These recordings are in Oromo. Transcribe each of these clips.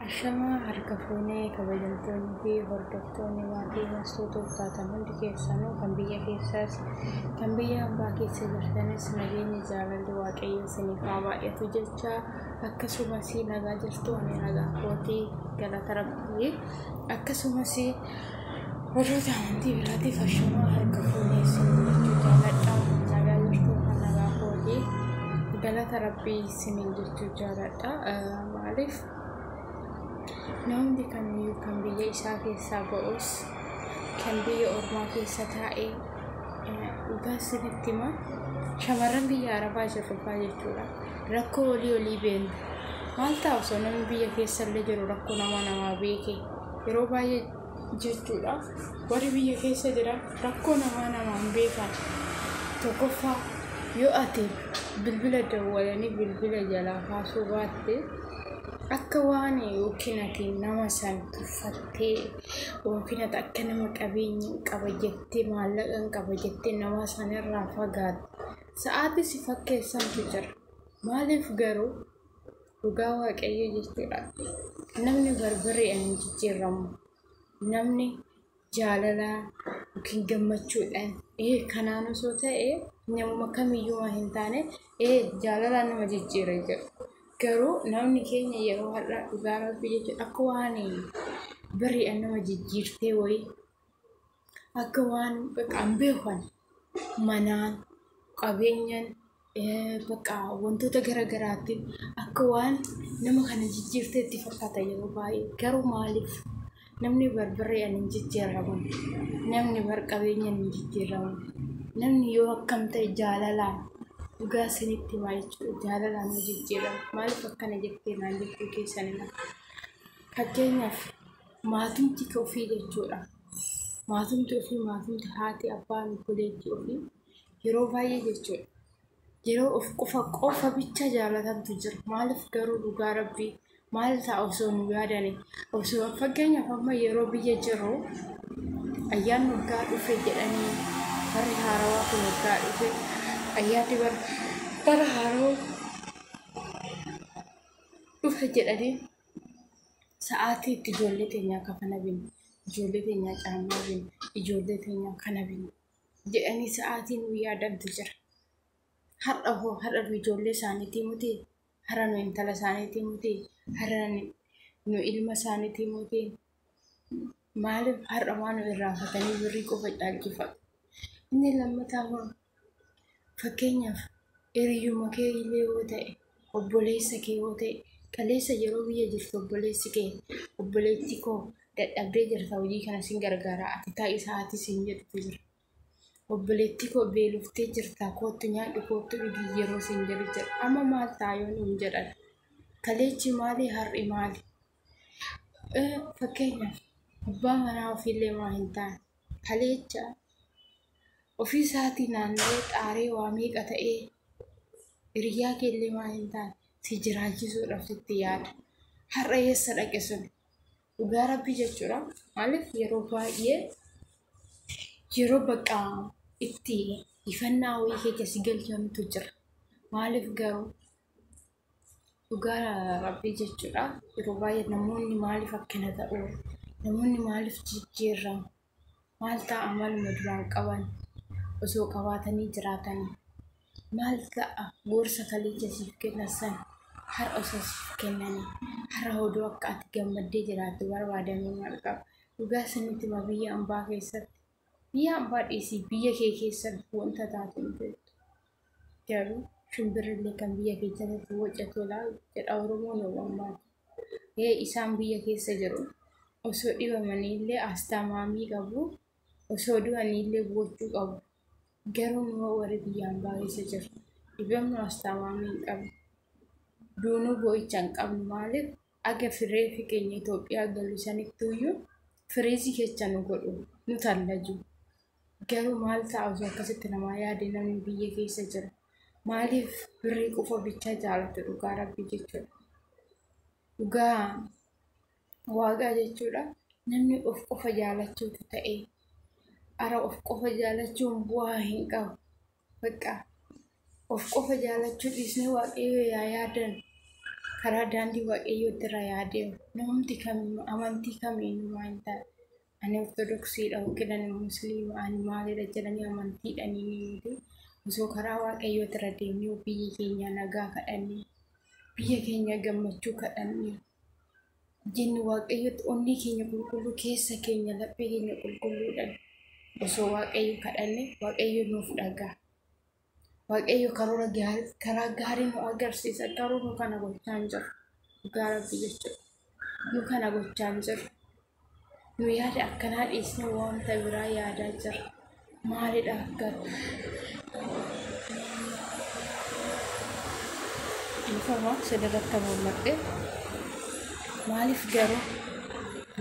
Ashamaa harka fuunee kabajamtoonni fi hordoftoonni maatii mastuu toltaatan hundi keessanuu kan biyya keessaas kan biyya ambaa keessa jirtanis nageenyi jaalalli waaqayyoo isiniif haa baay'atu jecha akkasumas nagaa jirtu ani nagaa kootii galata rabbii akkasumas warroota amantii biraatiif ashamaa harka fuunee isin jechuu jaaladha nagaa jirtu kan nagaa kootii galata rabbii isiniin jechuu jaaladha. Maaliif namni kamiyyuu kan biyya isaa keessaa ba'us kan biyya ormaa keessa taa'ee dhugaa isinitti hima shamarran biyya arabaa jirru faa jechuudha rakkoo olii olii beekna maal ta'a osoo namni biyya keessa illee jiru rakkoo nama namaa beeke yeroo baay'ee jechuudha. Warri biyya keessa jiran rakkoo namaa namaan beekan. Tokkoffaa yoo ati bilbila dawwalanii bilbila jalaa kaasuu baatte akka waan yookiin ati nama san tuffattee yookiin ati akka nama qabeenya hin qaba jettee maallaqa hin qaba jettee nama sanirraa fagaatte sa'aatii si fakkeessantu jira. Maaliif garuu Dhugaa waaqayyoo jechuudha. Namni barbareedhaan hin jijjiirramu. Namni jaalalaa yookiin gammachuudhaan ee kanaan osoo ta'e namuma kamiyyuu waan hin taane ee jaalalaan nama jijjiira jedhu. Garuu namni keenya yeroo har'aa dhugaa rabbii jechuudha akka waan bari'aan nama jijjiirtee wayii akka waan bakka hin beekne manaan, qabeenyaan, bakka wantoota gara garaatiin akka waan nama kana jijjiirteetti fakkaata yeroo baay'ee. Garuu maaliif? Namni bar barreen hin jijjiiramu, namni bar qabeenyaan hin jijjiiramu, namni yoo akkam ta'e jaalalaan dhugaa isinitti himaa jechuudha jaalalaan ni jijjiirama. Maaliif akkana jettee naan jettuu keessaniyyuu? Fakkeenyaaf maatumti ofii jechuudha. maatumti ofii maatumti haati abbaan obboleettii ofii yeroo baay'ee jechuudha. Yeroo of qofa qofa bicha jaalatantu jira. Maaliif garuu dhugaa rabbii maal ta'a osoo nu yaadane osoo fakkeenyaaf amma yeroo biyya jirru ayyaan waggaa dhufe jedhanii barri haarawaa kun waggaa dhufe ayyaanni bara bara haarawaa dhufe jedhanii Sa'aatii itti ijoollee teenyaa kafana bin, ijoollee teenyaa caammaa bin, ijoollee teenyaa kana bin jedhanii sa'aatii nu yaadantu jira. Har'a hoo har'a nu ijoollee isaaniitii muti? Har'a nu intala isaaniitii muti? Har'a nu ilma isaaniitii muti? Maaliif har'a waan irraanfatanii birrii qofa caalchifatu? Inni lammataa immoo fakkeenyaaf hiriyyuma kee illee yoo ta'e, obboleessa kee yoo ta'e, kaleessa yeroo biyya jirtu obboleessi kee, obboleettii koo dadhabdee jirta hojii kana sin gargaaraa ati taa'i sa'aatii siin jedhutu jira. Obboleettii koo beeloftee jirta koottu nyaadhu koottu dhugi yeroo siin jedhu jira. Amma maal ta'a yoo nuun jedhan? Kaleechi maali har'i maali? Fakkeenyaaf abbaa manaa ofiillee waan hin taane kaleecha ofii isaatii naanna'ee xaaree waa meeqa ta'ee hiriyyaa kee illee waan hin taane si jiraachisuudhaaf sitti yaada. Har'a eessa dhaqe suni? Dhugaa rabbii jechuudha. Maaliif yeroo baay'ee yeroo bakka itti ifannaa wayii keessa si galchantu jira. Maaliif garuu? Dhugaa rabbii jechuudha. Yeroo baay'ee namoonni maaliif akkana ta'u? Namoonni maaliif jijjiirramu? Maal ta'a maluma duraan qaban osoo qabaatanii jiraatanii? Maal ta'a gorsa kaleecha siif kennan sana har'a osoo siif kennanii? Har'a oduu akka ati gammaddee jiraattu barbaadanii maal qabu? Dhugaa isinitti hima biyya ambaa keessatti biyya ambaa dhiisii biyya kee keessatti wanta taatu hin beektu. Garuu shimbirrillee kan biyya keessatti waca tolaa jedha Oromoon Oromoo. Ee isaan biyya keessa jiru. Osoo dhibamaniillee asxaa maamii qabu. Osoo du'aniillee boochuu qabu. Garuu immoo warri biyya ambaa keessa jiru. Dhibamnu asxaa maamii hin qabnu. Duunuu boo'icha hin qabnu maaliif? Aga fireefi keenya Itoophiyaa galu sanittuuyyuu firiizii kecha nu godhu, nu tallaju. Garuu maal ta'a osoo akkasitti namaa yaade namni biyya keessa jiru? Maaliif birrii qofa bichaa jaalatu dhugaa rabbii jechuudha. Dhugaa waaqaa jechuudha namni of qofa jaalachuutu ta'e. Ara of qofa jaalachuun bu'aa hin qabu. Bakka of qofa jaalachuu dhiisnee waaqayyoo yaa yaadan karaa daandii waaqayyootti irra yaa deemu. Namumti kamiyyuu amantii kamiyyuu waan ta'e ani ortodoksiidha yookiin ani musliima ani maalidha jedhanii amantiidhaan hin himuuti. Osoo karaa waaqayyootti irra deemnee biyyi keenya nagaa kadhannee biyya keenya gammachuu kadhannee Jenna Waaqayyotti onnee keenya qulqulluu keessa keenya laphee keenya qulqulluudhaan osoo Waaqayyo kadhanne Waaqayyo nuuf dhaga'a. Waaqayyo karoora gaarii karaa gaarii nu agarsiisa garuu nu kana gochaa hin jirru dhugaa rabbii jechuudha. Nu kana gochaa hin jirru. nu yaada akkanaa dhiisnee wanta biraa yaadaa jirra. Maalidha garuu? Dhiifama sirriirratti mul'adhe. Maaliif garuu?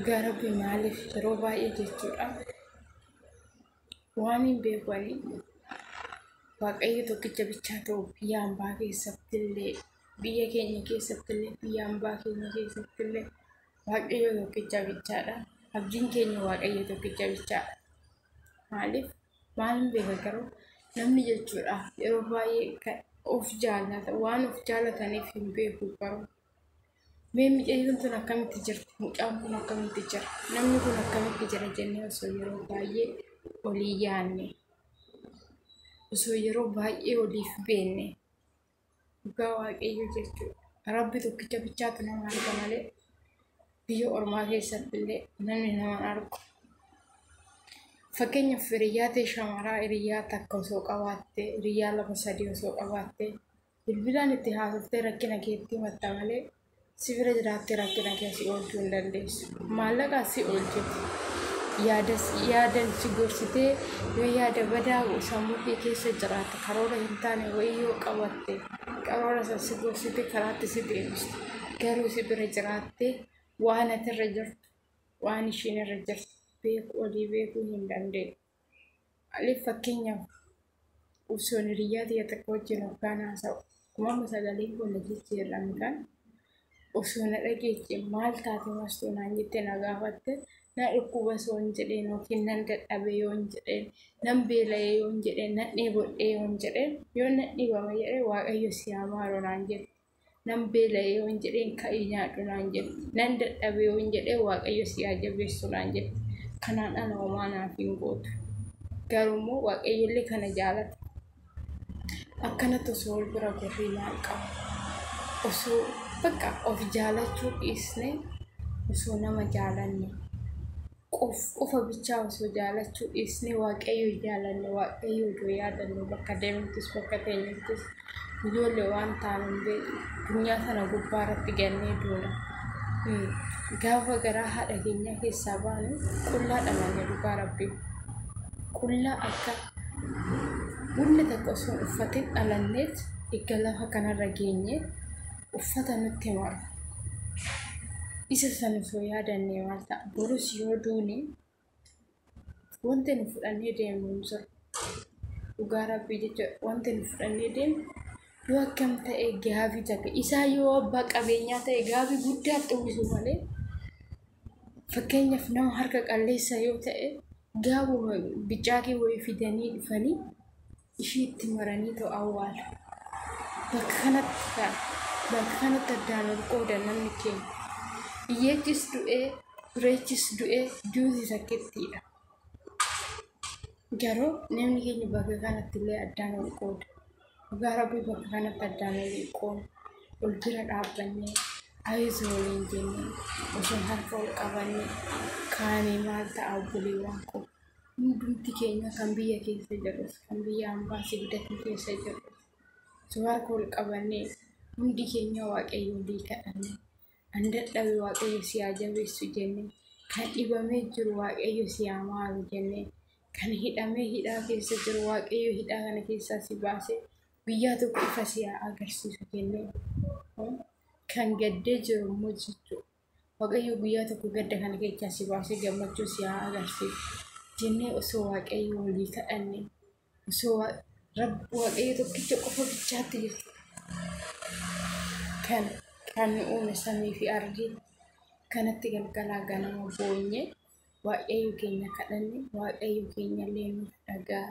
Garbi maaliif yeroo baay'ee jechuudha. Waan hin beekanii waaqayyo tokkicha bichaa ta'u biyya hambaa keessattillee biyya keenya keessattillee biyya hambaa keenya keessattillee Waaqayyo tokkicha bichaadha. Abdiin keenya Waaqayyo tokkicha bichaadha. Maaliif? Maal hin beeka garuu namni jechuudha yeroo baay'ee kan of jaallata waan of jaallataniif hin beeku garuu. Mee miidhagduun tun akkamitti jirti? Mucaan kun akkamitti jira? Namni kun akkamitti jira jennee osoo yeroo baay'ee olii yaanne. Osoo yeroo baay'ee oliif beenne. Dhugaa waaqayyo jechuudha. Rabbi tokkicha bichaatu nama arga malee biyya ormaa keessatti illee namni nama argu. Fakkeenyaaf hiriyyaa ta'e shamaraa hiriyyaa takka osoo qabaatte hiriyyaa lama sadii osoo qabaatte bilbilaan itti haasoftee rakkina keetti himatta malee Si bira jiraattee rakkina kee si oolchuu hin dandeessu. Maallaqaan si oolchiti. Yaada si- yaadan si gorsitee yoo yaada badaa sammuu kee keessa jiraatte karoora hin taane wayii yoo qabatte karoora san si gorsite karaatti si deebisti. Garuu si bira jiraattee waan ati irra jirtu waan ishiin irra jirtu beeku olii beekuu hin dandeessu. Alif fakkeenyaaf osoo hiriyyaa ta'e takka wajjin hoggaan haasa'u uumama sagalee koo na jijjiirramudhaan osoo na dhageeche maal taate mastuu naan jette na gaafatte na dhukkuba osoo hin jedheen yookiin nan dadhabe yoo hin jedheen nan beela'e yoo hin jedheen nan dheebodhe yoo hin jedheen yoo nan dhibama jedhee waaqayyo si haa maaru naan jette. nan beela'ee yoon jedheen ka'ii nyaadhu naan jette nan dadhabee yoon jedhee waaqayyo si haa jabeessu naan jette kanaan ala homaa naaf hin gootu garuu immoo waaqayyollee kana jaalata akkanatti osoo wal bira gorree maal qaba osoo bakka of jaalachuu dhiisnee osoo nama jaalanne qof qofa bichaa osoo jaalachuu dhiisnee waaqayyo jaalanne waaqayyo odoo yaadanne bakka deemnuttis bakka teenyuttis ijoollee waan taanu hin beeknu addunyaa kana gubbaa irratti gannee duuna Hmm. gaafa garaa haadha keenyaa keessaa baanu qullaa dhalanne dhugaa rabbii qullaa akka wanni takka osoo hin uffatin dhalanneet eegga lafa kanarra geenye uffata nutti maru. Isa san osoo yaadannee maal ta'a? Borus yoo duune wanti nu fudhannee deemnu hin jiru. Dhugaa rabbii jecha wanti nu fudhannee deemnu yoo akkam ta'e gaabii takka isaa yoo abbaa qabeenyaa ta'e gaabii guddaa xummisu malee fakkeenyaaf nama harka qalleessa yoo ta'e gaabuma bicaakee wayii fidanii dhufanii ishii itti maranii too awwaala. Bakka kanatti kan bakka kanatti addaan ol qoodan namni keenya. Iyyeechis du'ee, dureechis du'ee, duuti takkittiidha. Garuu namni keenya bakka kanatti illee addaan ol qooda. Dhugaa rabbii bakka kanatti addaan ol hin qoonu. Wal bira dhaabbannee, ayizu waliin jennee, osoo harka ol qabannee, kaanee maal ta'a obboleewwan koo. Hundumti keenya kan biyya keessa jirrus, kan biyya ambaa sibdatii keessa jirrus, suwaa kool qabannee hundi keenya waaqayyo olii kadhanne. An dadhabe waaqayyo si haa jabeessu jenne. Kan dhibamee jiru waaqayyo si haa maaru jenne. Kan hidhamee hidhaa keessa jiru waaqayyo hidhaa kana keessaa si baase guyyaa tokko ifa si haa agarsiisu jenne. Kan gaddee jiru immoo jechuudha. Waaqayyoo guyyaa tokko gadda kana keessaa si baasee gammachuu si haa agarsiisu. Jennee osoo Waaqayyoo walii kadhanne osoo Waaqayyoo tokkicha qofa bichaatti jirtu kan kan nu uume samii fi ardii kanatti galgalaa ganama boonye Waaqayyoo keenya kadhanne Waaqayyoo keenya illee nu dhagaa.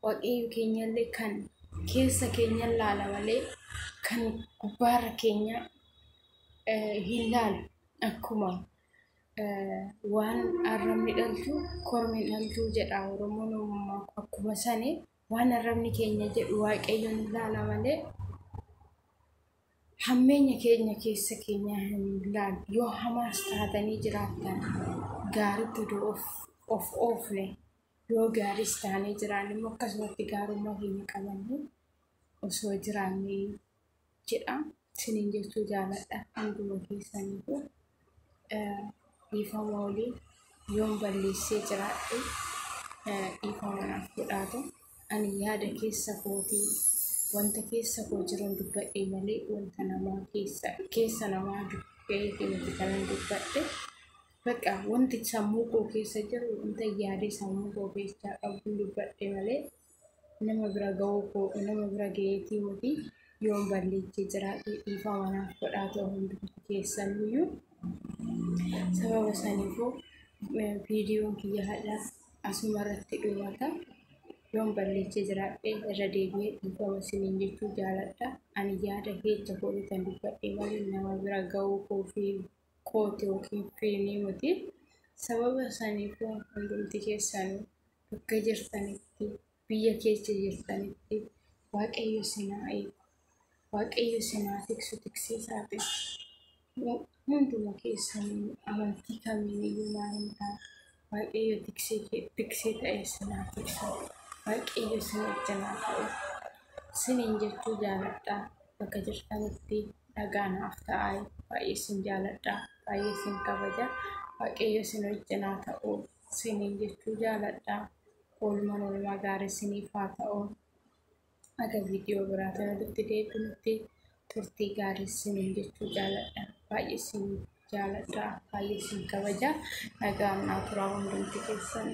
Waaqayyo keenyallee kan keessa keenya laala malee kan gubbaarra keenya hin laalu. Akkuma waan arrabni dhalchu kormi hin dhalchu jedha Oromoon ammoo akkuma sani waan arrabni keenya jedhu Waaqayyo ni laala malee hammeenya keenya keessa keenya hin laalu. Yoo hamaas taatanii jiraattan gaariitti utuu of oofne. Yoo gaariis taanee jiraanne immoo akkasumatti gaarummaa keenya qabannee osoo jiraannee jedha. Isiniin jechuu jaaladha hunduma keessaniifu. Dhiifama olii yoon balleessee jiraadhe dhiifama naaf godhaatu. Ani yaada keessa kootii wanta keessa koo jiruun dubbadhee malee wanta namaa keessa namaa dubbee fi miti kanan dubbadhe. Baqa wanti sammuu koo keessa jiru wanta yaadee sammuu koo keessaa qabuun dubbadhe malee nama bira ga'uu koo nama bira ga'eetii miti yoon balleetti jiraate dhiifama naaf godhaa ta'u hundumti keessaniyyuu sababa saniifuu viidiyoon kiyya hadha asuma irratti dhumata yoon balleetti jiraadhe irra deebi'ee dhiifama siniin jechuu jaaladha ani yaada keessa koo kan dubbadhe malee nama bira ga'uu koo fi kootu yookiin piriinii miti. Sababa saniifuu hundumti keessanuu bakka jirtanitti, biyya keessa jirtanitti Waaqayyo isin haa eegu. Waaqayyo isin haa tiksu, tiksee isaa haa ta'u. Hunduma keessanuu amantii kamiin iyyuu maal hin taane. Waaqayyo tiksee kee tiksee ta'ee sinaa tiksu. Waaqayyo sin wajjin haa ta'u. Siniin jechuu jaaladha. Bakka jirtanitti dhagaa naaf ta'aa. Baay'ee sin jaaladha. Baay'ee sin kabaja. Waaqayyo sin wajjin haa ta'u. Siniin jechuu jaaladha. Oolmaan oolmaa gaarii siniif haa ta'u. Aga viidiyoo biraa kanarratti deebinutti turtii gaarii sinin jechuu jaaladha. Baay'ee sin jaaladha. Baay'ee sin kabaja. Nagaan naa turaa hundumti keessan.